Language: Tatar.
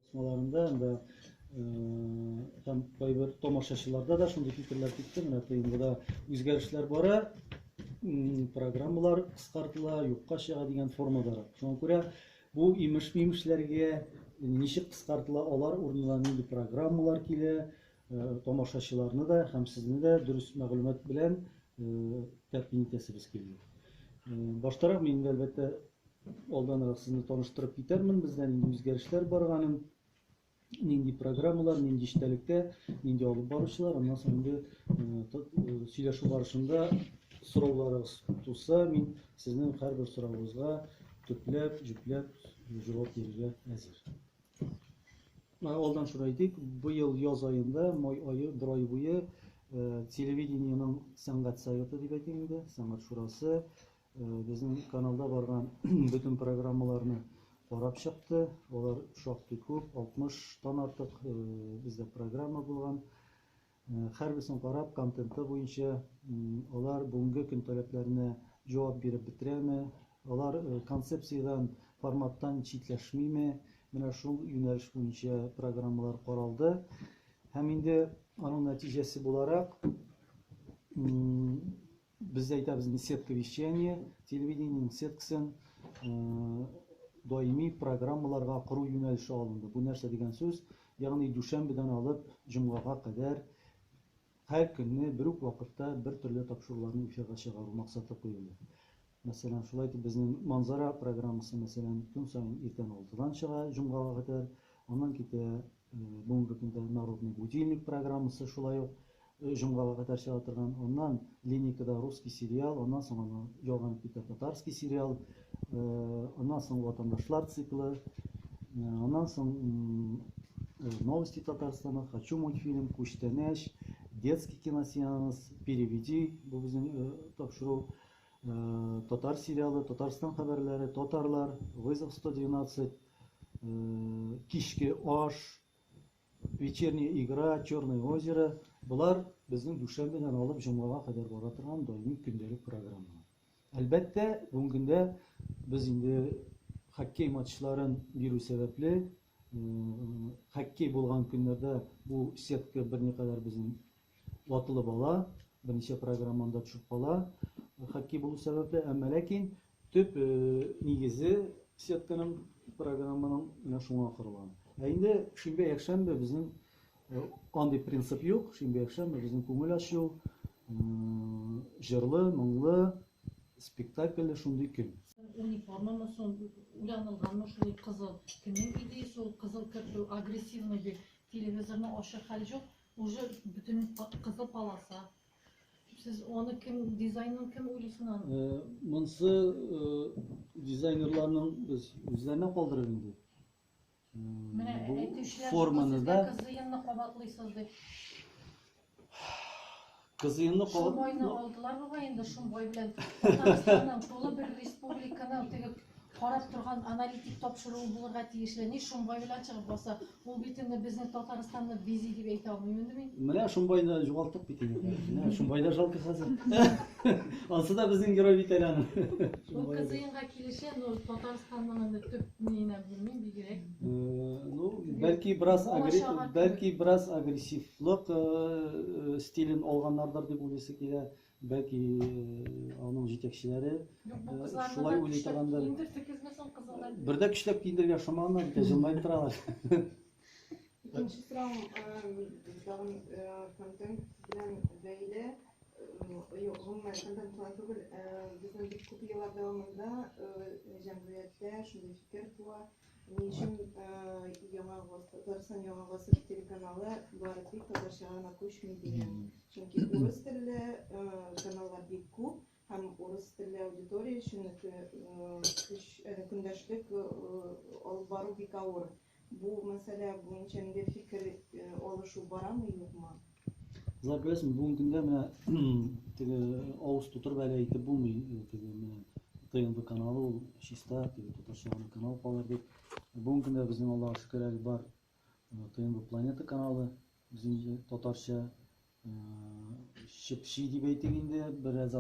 Басмаларында да һәм кайбер тамашачыларда да шундый фикерләр китте. Менә тыймгыда үзгәрешләр бара, программалар кыскартыла, юкка чыга дигән формадарак. Шуңа күрә бу имеш-мимешләргә ничек кыскартыла, алар урынына нинди программалар килә, Тамашачыларны да һәм сезне дә дөрес мәгълүмат белән тәэмин итәсебез килде. Баштарак мин инде, әлбәттә, алданрак сезне таныштырып китәрмен, бездә нинди үзгәрешләр барганын, нинди программалар, нинди эчтәлектә, нинди алып баручылар, аннан соң инде сөйләшү барышында сорауларыгыз туса, мин сезнең һәрбер сорауыгызга төпләп, җөпләп җавап бирергә әзер. Алдан шуны әйтик, быел яз аенда, май ае, бер ай буе телевидениенең сәнгать советы дип әйтим инде, сәнгать шурасы безнең каналда барган бөтен программаларны карап чыкты. Алар шактый күп, 60 тан артык бездә программа булган. Һәрберсен карап, контенты буенча алар бүгенге көн таләпләренә җавап биреп бетерәме, алар концепциядән, форматтан читләшмиме, менә шул юнәлеш буенча программалар каралды. Һәм инде аның нәтиҗәсе буларак, Без дә әйтәбез инде сетка вещания, телевидениенең сеткасын даими программаларга кору юнәлеше алынды. Бу нәрсә дигән сүз? Ягъни дүшәмбедән алып җомгага кадәр һәр көнне бер үк вакытта бер төрле тапшыруларны эфирга чыгару максаты куелды. Мәсәлән, шулай итеп безнең Манзара программасы, мәсәлән, көн саен иртән 6-дан чыга җомгага кадәр, аннан китә Бүгенге көндә Народный будильник программасы шулай ук җомгага кадәр чыга торган. Аннан Линейкада русский сериал, аннан соң аны ялганып китә татарский сериал, аннан соң Ватандашлар циклы, аннан соң Новости Татарстана, Хочу мультфильм, Күчтәнәч, Детский киносеанс, Переведи, бу безнең тапшыру, татар сериалы, Татарстан хәбәрләре, Татарлар, Вызов 112, кичке аш, вечерняя игра, черное озеро, болар безнең дүшәмбедән алып җомгага кадәр бара торган даими көндәлек программа. Әлбәттә, бүгенге көндә без инде хоккей матчларын бирү сәбәпле, хоккей булган көннәрдә бу сетка берникадәр безнең Ватылып ала, берничә программа анда төшеп кала, хакки булу сәбәпле, әмма ләкин төп нигезе сетканың, программаның менә шуңа корылган. Ә инде шимбә-якшәмбе безнең андый принцип юк, шимбә-якшәмбе безнең күңел ачу, җырлы, моңлы, спектакльле шундый көн. Униформамы сон уянылганмы шул кызыл? Кемнең идеясе ул кызыл кертү, агрессивный бит, телевизорны ачыр хәл җук, Уже бөтен кызыл полоса. Сез аны кем дизайнын кем уйлыйсын аны? Монсы дизайнерларның без үзләренә калдырып инде. Менә әйтүчеләр форманы да кызыенны кабатлыйсыз дип. Кызыемны кабат. Шомбайны алдылар бугай инде, Шомбай белән Татарстанның тулы бер республиканың теге карап торган аналитик тапшыруы булырга тиешле. Ни Шомбай белән чыгып баса? Ул бит инде безне Татарстанны бизи дип әйтә алмыйм инде мин. Менә Шомбайны югалттык бит инде. Менә Шомбай да жалко хәзер. Ансы да безнең герой бит әле аның. Бу кызыемга килешә, но Татарстанның инде төп ни генә белмим, бигрәк Ну, бәлки бераз агрессив, бәлки бераз агрессивлык э, э, стилен алганнардыр дип уйлыйсы килә. Бәлки э, аның җитәкчеләре шулай уйлый торгандыр. Бердә көчләп киендергә шоманнар, икән җылмаеп торалар. Икенче сорау тагын контент белән бәйле. Гомумән контент кылан түгел, безнең бик күп еллар дәвамында җәмгыятьтә шундый фикер туа. Ни өчен Яңа Гасыр, Татарстан Яңа Гасыр телеканалы бары тик татарчага гына күчми дигән? Чөнки урыс телле каналлар бик күп һәм урыс телле аудитория өчен көндәшлек алып бару бик авыр. Бу мәсьәлә буенча нидер фикер алышу барамы, юкмы? Зар беләсең, бүгін көндә менә теге авыз тутырып әле әйтеп булмый, теге менә ТНВ каналы ул чиста, теге татарча гына канал калыр дип. Бүгін көндә безнең Аллаһы шөкер әле бар ТНВ планета каналы, безнең татарча чепши дип әйтик инде, бераз